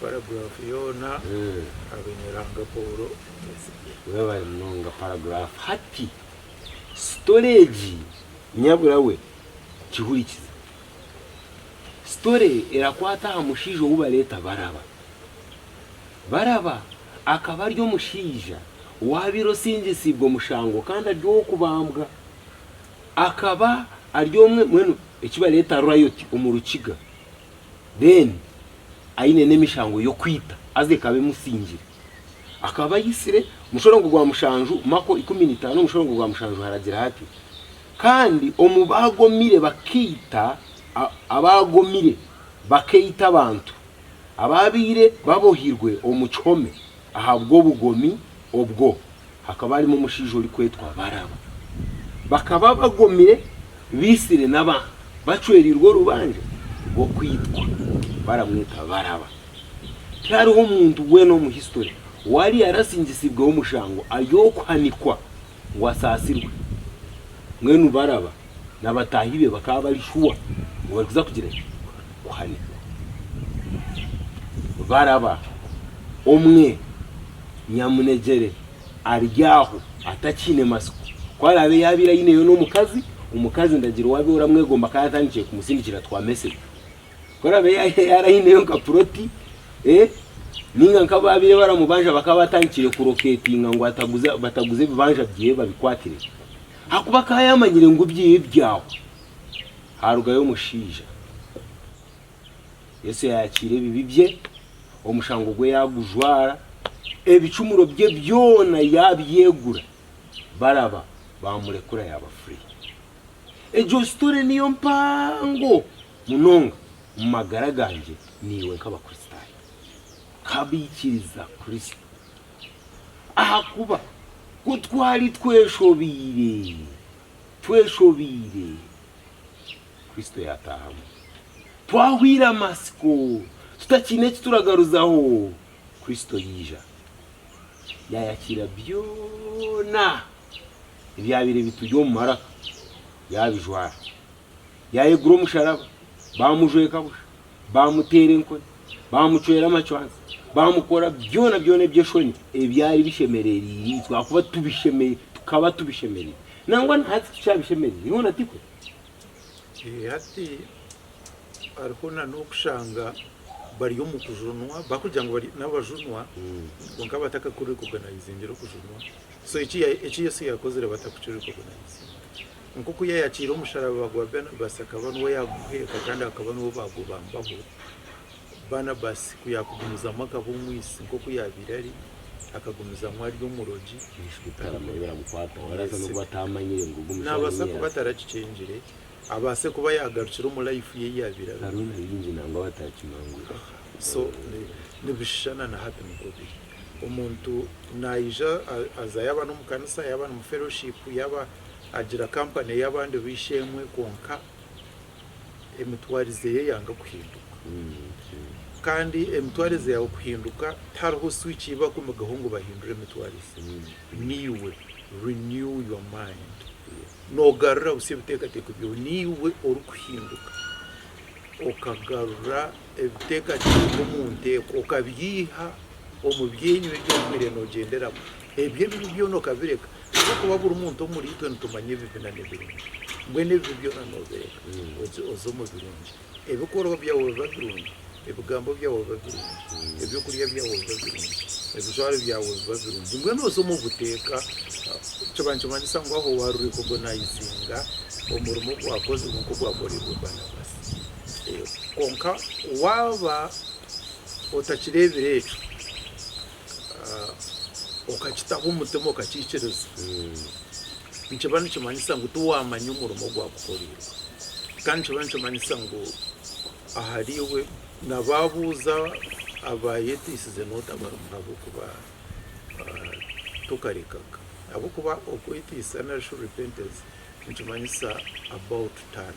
Paragraph yoona abaine Ruhanga Paul Omutesigye. Webale munonga paragraph hati story egi nyabura we kihurikize story erakwata aha mushaija owu bareta Baraba Baraba akaba ari omushaija owabaire osingisiibwe omushango kandi ari owokubambwa akaba ari omwe mbwenu ekibareta riot omu rukiga. then aine n'emishango y'okwita haza ekaba emusingire. Akaba ayitsire mushorongo gwa mushanju, Mako ikumi na itaano mushorongo gwa mushanju haragira hati, Kandi omu baagomire bakaita, abaagomire bakaita abantu abaabaire babohirwe omu kihome Ahabw'obugomi obwo hakaba harimu omushaija orikwetwa Baraba. Bakaba bagomire baitsire n'abantu bacwereirwe orubanja rw'okwitwa baramweta Baraba. Tihariho muntu weena omu hisitori owaari yaarasingisibweho omushango ari okuhanikwa ngu asaasirwe. Mbwenu Baraba n'abataahi be bakaba bari shuwa ngu barikuza kugira ki? Kuhanikwa. Baraba omwe nyamunegyere ari aho atakiine matsiko. Ku araabe yaabaire aineyo n'omukazi, omukazi ndagira waabaire oramwegomba akaba atandikire kumusindikira twa mesegi. Ku araabe yaaba aineyo nka puroti, nainga nk'abu baabaire baramubanja bakaba batandikire kurokeetinga ngu ataguza bataguze ebibanja byeye babikwatire. Ahakuba akaba yaamanyire ngu ebyeye byahwa. Haarugayo omushaija. Yesu yaayakiira ebibi bye, omushango gwe yaagujwara, ebicumuro bye byona yaabyegura. Baraba baamurekura yaaba furi. Egyo sitore niyo mpango munonga omu magara gangye naiwe nk'Abakristaayo, nk'abaikiriza Kristo. Ahakuba ku twali tweshobeire, tweshobeire, Kristo yaataahamu. Twahweire amatsiko, tutakiine eki turagaruzaho, Kristo yaija. Yaayakiira byona ebyabaire bituri omu maraka, yaabijwara. Yaayegura omusharaba, baamujweka busha, baamuteera enkoni, baamucwera amacwansi, baamukora byona byona eby'eshoni ebyari bishemerereire itwe ahakuba tubisheme- tukaba tubishemereire. Nangwa na hati tukyabishemereire, hoona tikwe? Eh, Hati hariho na n'okushanga bari omu kujunwa, bakugira ngu bari n'abajunwa, kwonka batakakorire oganayizingire okujunwa. So eki eki Yesu yakozire batakukirire kugunaanisa. Nk'oku yayakiire omusharaba gwa Barnabas akaba nuwo yaguheeka kandi akaba nuwo bagubambaho, Barnabas ku yakugumizamu akaba omwisi nk'oku yabaire ari, akagumizamu ari omurogi. Yesu bikaramanya biramukwataho. Araasa n'okuba ataamanyire ngu ogu mushaija Naabaasa kuba Yesu. atarakikyengire, abaase kuba yaagarukire omu life ye ei yaabaire arimu. Hariho na baingi nangwa abatarakimangwire. So, ni nibishushana na hati nikwo biri. Omuntu naija aza yaba nomu kanisa yaba nomu fellowship yaba agira company yabandi b'eishe-emwe kwonka emitwarize ye yanga kuhinduka. Kandi emitwarize yawe kuhinduka tihariho switch ei bakumigaho ngu bahindure emitwarize. Niiwe renew your mind. Nogarura busa ebitekateko byawe. Niiwe orikuhinduka okagarura. Ebiteekateeko omu nteeko okabiiha omu byenyu ebi obaire noogyenderamu. Ebyo ebibi byona okabireka. Ahabw'okuba buri muntu omuriitwe nitumanya ebibi na n'ebirungi. Mbwenu ebibi byona noobireka oze omu birungi. Ebikorwa byawe biba birungi, ebigambo byawe biba birungi, eby'okurya byawe biba birungi, ebijwaro byawe biba birungi. Mbwenu oze omu buteeka. Kiba nikimanyisa ngu aho waarureeba ogwo naizinga omurimo ogwakozirwe nk'ogwakoreirwe Banabasi. Kwonka waaba otakireebire ekyo, okakitaho omutima okakiikiriza, nikiba nikimanyisa ngu tiwaamanya omurimo ogwakukoreirwe. Kandi nikiba nikimanyisa ngu ahariiwe na baabuuza abaayeteisize n'otabarimu ahabw'okuba tokarekaga. Ahabw'okuba okweteisa nari shi repentance nikimanyisa about turn.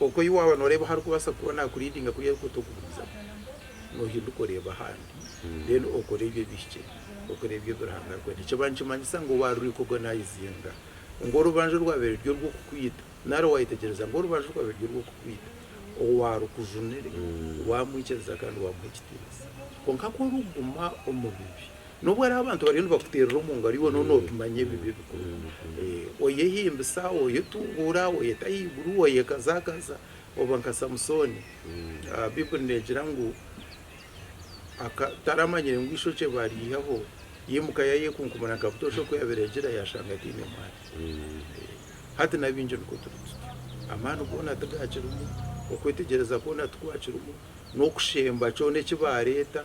Okwo ei waaba noreeba aha arikubaasa kuba nakuridinga kuriya arikukutugumiza nohinduka oreeba ahandi then okora ebyo ebihikire okora ebyo ebi Ruhanga arikwenda. Nikiba nikimanyisa ngu obu arikureeka organizinga ngu orubanja orwabaire ruri orw'okukwita nari wayetegyereza ngu orubanja orwabaire ruri orw'okukwita owaarukujunire waamwikiriza kandi waamuha ekitiinisa. Kwonka ku orikuguma omu bibi N'obu hariho abantu bariyo nibakuteerera omu ngaro, iwe nooba noobimanya ebi bikuru. Oyehimbisa, oyetunguura, oyeta ahaiguru, oyekazaakaza, oba nka Samusooni. Baibuli neegira ngu aka, taramanyire ngu eishokye baariihaho, yaimuka yaayekunkumura nka butoosha oku yaabaire agira, yaashanga ataine mwana. Hati na baingi nikwo turi tutyo. Amaani goona tigaakirimu, okwetegyereza kwona tikwakirimu, n'okushemba kyona eki baareeta,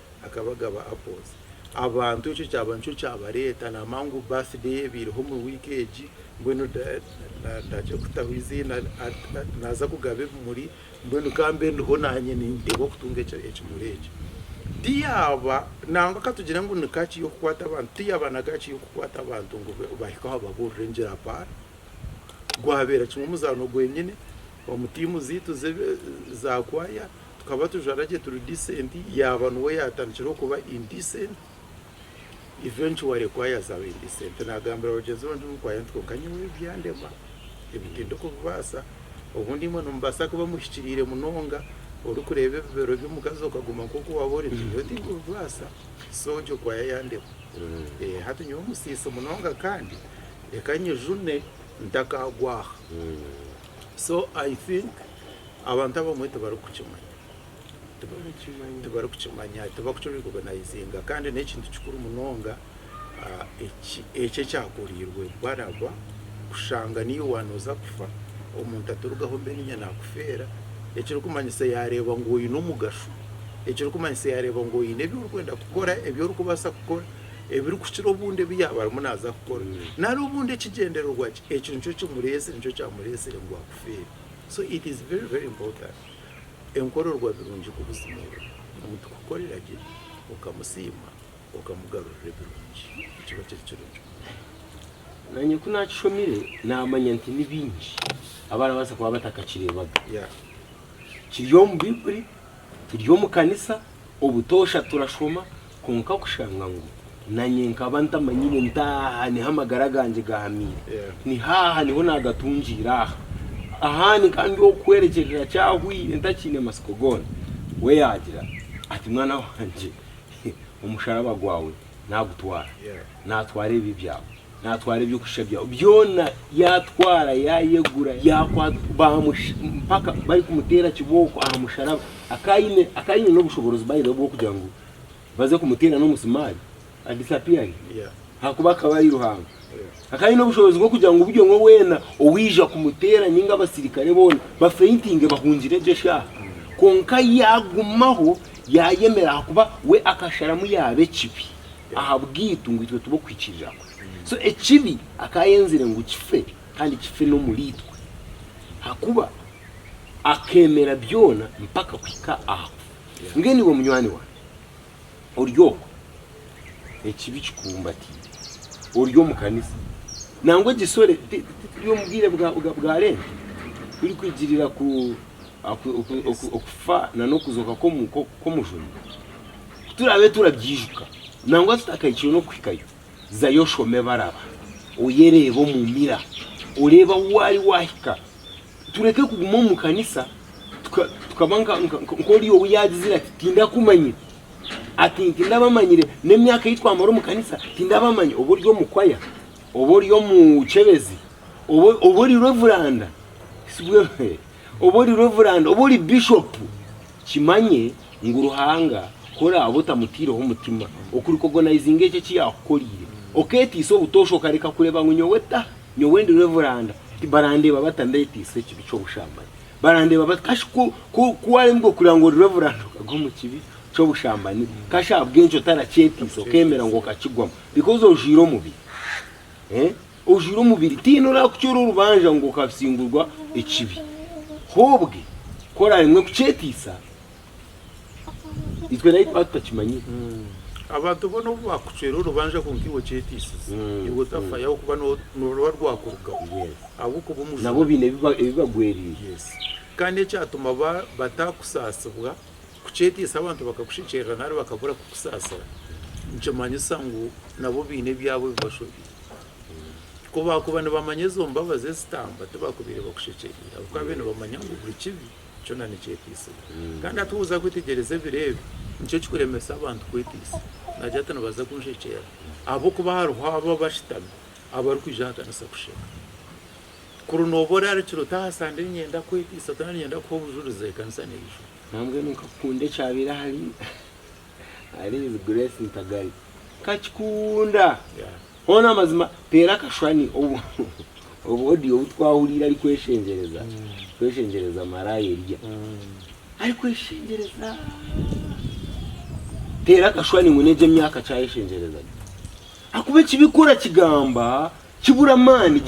Akaba agaba apples. Abantu ekyo kyaba nikyo kyabareeta namanya ngu birthday eba eriho omu week egi mbwenu ndagye kutaho eiziina naza kugaba ebimuri mbwenu kambe ndiho nanye ninteebwa kutunga ekimuri ekyo. Tiyaba nangwa katugire ngu ni kaki y'okukwata abantu tiyaba na kaki y'okukwata abantu ngu bahike aho babuurire ngira apana. Gwabeera kimwe omuzaano gwenyine omu tiimu zeitu za kwaaya. tukaba tujwara gye turi decent yaaba nuwe yatandikire okuba indecent eventually ku yazaba indecent nagambira bagyenzi be ngu nkwayo nti kwonka nyowe ebi byandema ebi tindikubibaasa obundi imwe nimubaasa kuba muhikiriire munonga orikureeba ebibero by'omukazi okaguma nk'oku waaba ori nti nyowe tinkubibaasa so ogyo kwaya yandema eh, hati nyowe omusiisi munonga kandi reka nyijune ntakaagwa aha so i think Abantu abamwe tibarikukimanya, tibarikukimanya, tibakukirekogonayizinga kandi n'ekintu kikuru munonga eki ekyakoreirwe Baraba, kushanga niiwe waanoza kufa, omuntu aturugaho mbwenu niija naakufeera, ekirikumanyisa yaareeba ngu oine omugasho, ekirikumanyisa yaareeba ngu oine ebi orikwenda kukora, ebi orikubaasa kukora, ebirikukira obundi ebi yaaba arimu naaza kukora, nari obundi ekigyendererwa kye, ekyo nikyo kimureetsire, nikyo kyamureetsire ngu akufeere. So it is very very important enkororwa birungi kubuzimuura omuntu kukorera gye okamusiima okamugarurira ebirungi nikiba kiri kirungi munonga. Nanye ku nakishomire namanya nti ni bingi abarabaasa kuba batakakireebaga. Yeah. Kiri omu baiburi, turi omu kanisa, obutoosha turashoma, Kwonka kushanga ngu nanye nkaba ntamanyire nti aha niho amagara gangye gahamiire. Ni haaha niho naagatungiire aha. Ahandi nkaba ndi ow'okuhwerekyerera kyahwaire ntakiine matsiko goona. We yaagira ati, Mwana wangye, omusharaba gwawe naagutwara. Naatwara ebibi byawe. Naatwara eby'okushusha byawe byona. Yaatwara, yaayegura, yaakwata, baamusha mpaka barikumuteera kibooko aha musharaba. Akaba aine, akaba aine n'obushoboorozi by the way bw'okugira ngu baze kumuteera n'omusimaari adisapiyare ahakuba akaba ari Ruhanga. Akaba aine obushobozi bw'okugira ngu buri omwe weena owaija kumuteera ninga abasirikare boona bafeintinge bahungire egyo shaaha. Kwonka yaagumaho yaayemera ahakuba we akasharamu yaaba ekibi ahabwaitu ngu itwe tube okuhikiirira kwe. So ekibi akaba ayenzire ngu kife kandi kife n'omuriitwe ahakuba akeemera byona mpaka kuhika aha kufa. Mbwenu iwe munywani wange ori okwo, ekibi kikubumbatiire, ori omu kanisa, nangwa egisore, tituri omu bwire bwa Lenti, turikwigirira okufa n'okuzooka kw'Omujuni, ku turaabe turabyijuka, nangwa tutakahikire n'okuhikayo. Zayo oshome Baraba, oyereebe omu mira oreebe ahu waari waahika. Tureke kuguma omu kanisa tukaba nk'ori ou yaagizire ati, Tindakumanyire. Ati, Tindabamanyire. N'emyaka ei twamara omu kanisa tindabamanya. Oba ori omu kwaya, oba ori omukyebezi, oba ori reveranda, oba ori reveranda, oba ori bishopu. Kimanye ngu Ruhanga ku oraabe otamutaireho mutima, okurikogonaizinga ekyo eki yaakukoreire, okeetiisa obutoosha okareka kureeba ngu nyowe ta, nyowe ndi reveranda, barandeeba bata ndeetiisa ekibi ky'obushambani? Barandeeba bata? Kashi ku ku ku waaremirwe kureeba ngu ori reveranda okagwa omu kibi ky'obushambani, kashi ahabw'enki otarakyetiisa okeemera ngu okakigwamu because ojwaire omubiri? Eh? Ojwire omubiri tihaine orakucora orubanja ngu okabsingurwa ekibi. Hobwe ku oraremwe kucetisa, itwe naitwe ba tutakimanyire. Abantu bona obu bakucwera orubanja kwonka iwe ocetisize, iwe otafayo ahabw'okuba noruba rwakurugaho ahabw'okuba omujura. Nabo baine ebibagwerire. Yes. Kandi ekyatuma batakusaasibwa Kukyetiisa abantu bakakushekyerera nari bakabura kukusaasira, nikimanyisa ngu nabo baine ebyabo ebi bashobire. Ku baakuba nibamanya ezo mbabazi ezitamba, tibakubaire bakushekyereire ahabw'okuba baabaire nibamanya ngu buri kibi kyona nikyetiisibwa. Kandi hati woza kwetegyereza ebiro ebi, nikyo kikuremesa abantu kwetiisa. Naagira ati, Nibaza kunshekyerera ahabw'okuba hariho abo abashutami abarikwija aha kanisa kusheka. Kuri noba orarikire ota aha sande ninyenda kwetiisa ota na ninyenda kuha obujurizi ekanisa neija. Nambwenu nkakukunda ekyabaire ahari ahari is grace ntagari nkakikunda Yeah. hoona amazima teera akashwani obu obu audio obu twahuriire arikweshengyereza kweshengyereza maraaya eriya arikweshengyereza teera akashwani ngu n'egi emyaka ki ayeshengyerezaga ahakuba ekibi ku orakigamba kibura amaani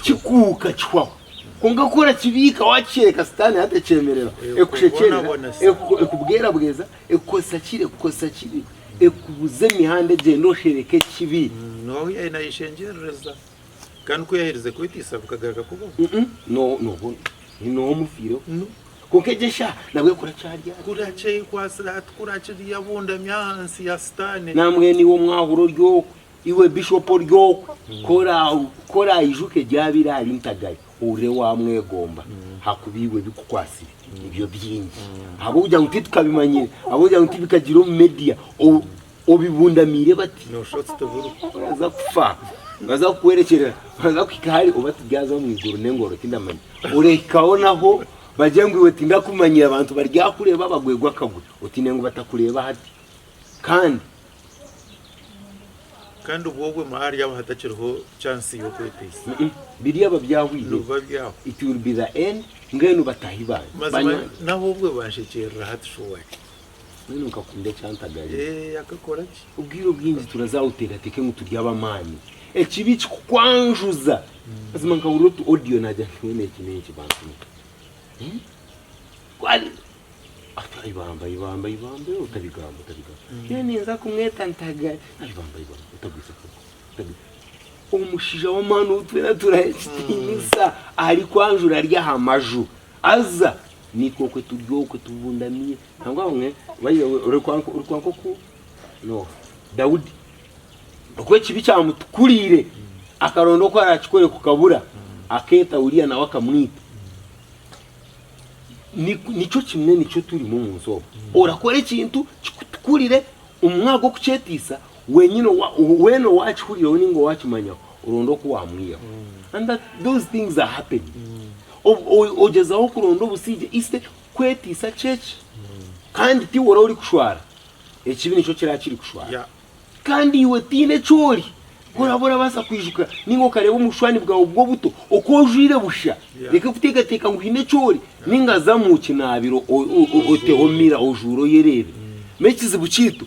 kikuuka kihwaho. Kwonka ku orakibiika waakikyeereka Sitaane hati ekyemerera ekushekyerera, ekubwerabweza, ekukozesa kira ekukozesa kibi, ekubuza emihanda egyende oshereke ekibi. Nooha ou yaabaire naayeshengyerereza, kandi ku yaaherize kwetiisa bikagaruka kubaho? Nooha omufiireho? Kwonka egyo eshaaha nabwo ekora kyari ati. Kurakyekwasire hati kurakiriyo abundami ahansi ya Sitaane. Nambwenu iwe omwahura ori okwe, iwe Bishop ori okwe, ku oraijuka ebyabire ahari Ntagari, ohurire wamwegomba ahakuba iwe ebikukwasire nibyo byingi. Ahabw'okugira ngu titukabimanyire, ahabw'okugira ngu tibikagire omu media, Obibundamiire bati nooshusha oti tiburiho. Baraza kufa, nibaza kukuhwerekyerera, baraza kuhika hare oba tibyaza omu iguru n'engoro tindamanya. Orahikaho naho bagire ngu iwe tindakumanyire, abantu baryakureeba bagwegwe akagwe. Otiine ngu batakureeba hati kandi. Kandi obwo obwe ma haryaba hatakiriho chansi y'okweteisa. Mm-mm. Biryaba byahwire. Nibiba byahwa. It will be the end, mbwenu bataahi bangye. Mazima Banywani. naho obwe banshekyeerera hati shuwari. Mbwenu nkakunda ekyantagari. Eeh akakora ki? Obwire obwingi turaza aha otekateke ngu turi ab'amaani. Ekibi kikukwanjuza. Mazima nkahurira otu audio naagira nti mbwenu eki n'enki bantu mwe? Eeh? Kwali! Ati ibamba ibamba ibamba eeh otabigamba otabigamba. Nyowe ninza kumweta ntagari. Ati ibamba ibamba otagwiza akagu otagwi. Omushija w'amaani ou twena turaha ekitiinisa arikwanjura ari aha maju. Haza nikwo okwe turi okwe tubundamire. Nangwa bamwe baija orikwanka orikwanka oku Noha, Daudi. Okuba ekibi kyamutukurire akaronda oku arakikore kukabura aketa Uria nawe akamwita. Ni- Nikyo kimwe nikyo turimu omu nsi omu. Orakora ekintu kikutukurire omu mwanya gw'okukyetisa Wenyini wena owakihuriraho ninga owakimanyaho oronda oku wamwihaho and that those things are happening ogyezaho kuronda obusigye instead kwetisa kyeki kandi tiwe ori orikushwara ekibi nikyo kira kirikushwara kandi iwe tiine ekyori ku oraba orabasa kwijuka ninga okareba omu bushwani bwawe obwo obuto oku ojwire busha reka kutekateka ngu haine ekyori ninga zamu kinabiro oteho mira ojwure oyerebe ekizibu kyitu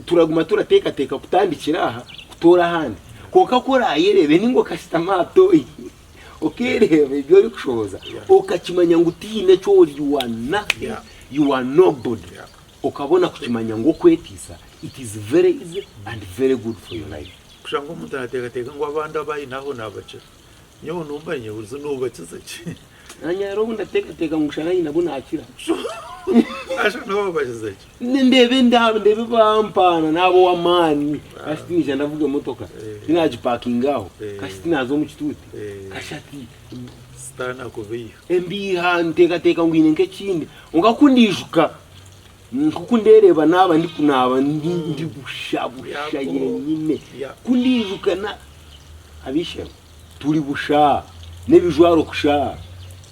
Turaguma turateekateeka kutandikira aha kutoora ahandi. Kwonka ku oraayereebe ninga okashutama aha tooyi okeereeba ebi orikushohoza okakimanya ngu tihaine eki ori, you are nothing, you are nobody, okabona kukimanya ngu okwetiisa it is very easy and very good for your life. Kushanga omuntu naateekateeka ngu abandi abu aine aho naabakira. Nyowe nomanya burijo nobakiza ki? Nanye hariho obu ndateekateeka ngu shana nyine abu naakira. Asha nobabakiza ki? Ni- Ndeeba endaaba ndeeba ebampaana naaba ow'amaani kashi tiniija ndavuga emotoka Eh. tinaagipakinga aho Eh. kashi tinaaza omu kituuti Eh. kashi ati Sitaane akubeiha. embiiha nteekateeka ngu hiine nk'ekindi kwonka ku ndiijuka Nk'oku ndeereeba naaba ndikunaaba ndi busha busha nyenyine. Ku ndaijuka ab'eishe-emwe turi busha n'ebijwaro kusha.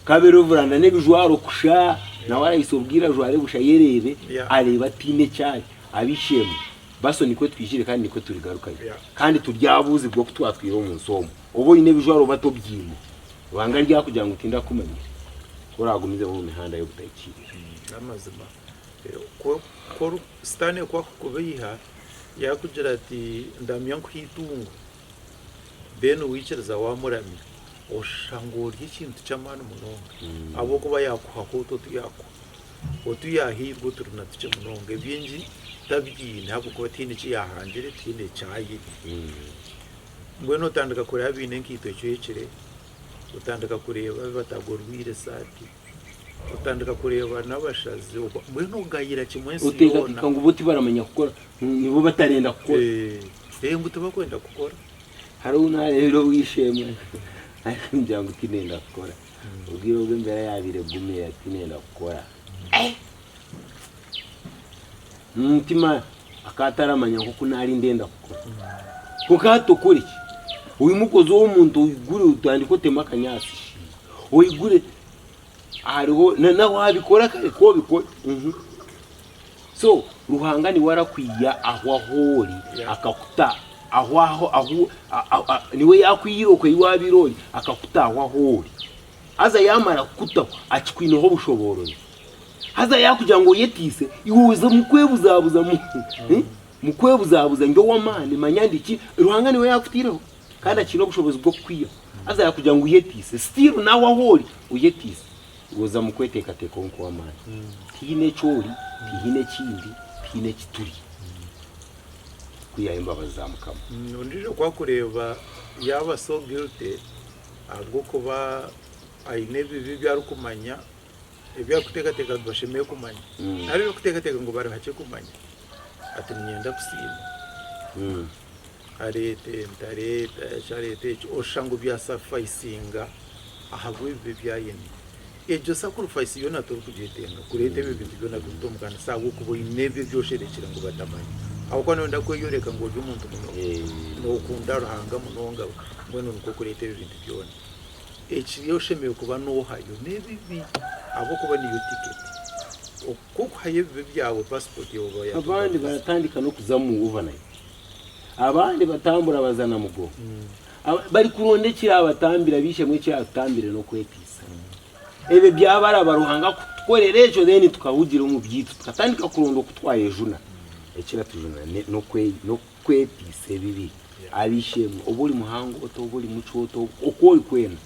Kabere oruvuranda n'ebijwaro kusha, nawe araisa obwire ajware busha ayereebe, areebe ataine eki ari. Ab'eishe-emwe, baso nikwo twijire kandi nikwo turigarukayo. Kandi turyabuuzibwa oku twatwire omu nsi omu. Oba oine ebijwaro oba tobiine, Ruhanga aryakugira ngu tindakumanyire, ku oraagumizeho omu mihanda y'obutaikiirira. N'amazima, Sitaane ku akukubeiha yaakugira ati, Ndamya nkuhe eitungo, then waikiriza waamuramya, oshusha ngu orya ekintu ky'amaani munonga, ahabw'okuba yaakuhaho otu otu yaakuha. Otu yaahairwe oturi na tukye munonga, ebingi tabyine ahabw'okuba tihaine eki yaahangire, tihaine eki ahaire. Mbwenu otandika kureba abaine enkaito ecwekire, otandika kureeba abu batagorwiire esaati, otandika kureeba n'abashazi, mbwenu ogayira kimwe ensi yoona. Ngu bo tibaramanya kukora, nibo batarenda kukora. Ee, ngu tibakwenda kukora. Hariho ou naareebire ow'eishe-emwe arikugira ngu tindenda kukora. Obwire obu embeera yaabaire egumire ati, tindenda kukora. Omu mutima akaba ataramanya nk'oku naari ndenda kukora. Kwonka hati okore ki? Oimukozi ow'omuntu oigure otandike oteme akanyaatsi shi. Oigure hariho na- na waabikora kare ku obikore. Mhm. So Ruhanga niwe arakwiha ahu ahu ori Yeah. akakuta ahu ahu ahu a- a- a- niwe yaakwiire okwo ei waabaire ori akakuta ahu ahu ori. Haza yaamara kukutaho akikwineho obushoboorozi. Haza yaakugira ngu oyeteise, iwe oze mukwebuzabuza mu eh, mukwebuzabuza ndi ow'amaani manya ndi ki, Ruhanga niwe yaakuteireho kandi akiine obushobozi bw'okukwihaho. Haza yaakugira ngu oyeteise, still naawe ahu ori oyeteise, iwe oza mukweteekateekaho nk'ow'amaani. Tihaine eki ori, tihaine eki ndi, tihaine eki turi kwihaho embabazi za Mukama. Ondiijo ku akureeba yaaba so guilty ahabw'okuba aine ebibi ebi arikumanya ebi arikuteekateeka ngu bashemereire kumanya, nari ebi arikuteekateeka ngu barihakye kumanya. Ati, Niinyenda kusiima. Areeta ente, areeta eki, areeta eki, oshanga byasafayisinga ahabw'ebi bi ebi ayine. Egyo sakurifayisi yoona torikugyetenga kureeta ebyo bintu byona kubita omu kanisa ahabw'okuba oine ebyo ebi osherekire ngu batamanya. Ahabw'okuba nooyenda kweyoreka ngu ori omuntu munonga, nookunda Ruhanga munonga, mbwenu nikwo okureeta ebyo bintu byona. Ekiri oshemereire kuba nohayo nebibi ahabwokuba niyo ticket kokuhayo ebibi byawe passport yawe oba yatugana. Abandi baratandika nokuza mu overnight, abandi batambura baza na mugongo, hmm. aba- bari kuronda ekirabatambira bishemu ekiratutambire nokwetisa ebyo byabaraba ruhanga kutukorera ekyo then tukahugira omu byaitu tukatandika kuronda okutwayejuna ekiratujuna ne- nokwe- no- Kweteisa ebibi ari ishe-emwe, oba ori muhango ota, oba ori mucwe ota, oba oku ori kwena,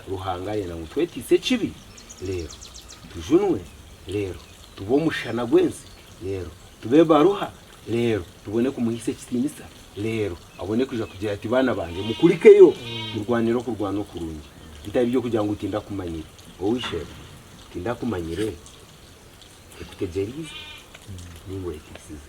Ruhanga arenda ngu tweteise ekibi reero tujunwe, reero tube omushana gw'ensi, reero tube baruha, reero tubone kumuhaisa ekitiinisa, reero abone kwija kugira ati, Baana bangye, mukurikeyo, murwanire okurwana okurungi. Bitari by'okugira ngu tindakumanyire. Wowe ishe-emwe, tindakumanyire? Nkutegyereize? Ninga oyeteisize?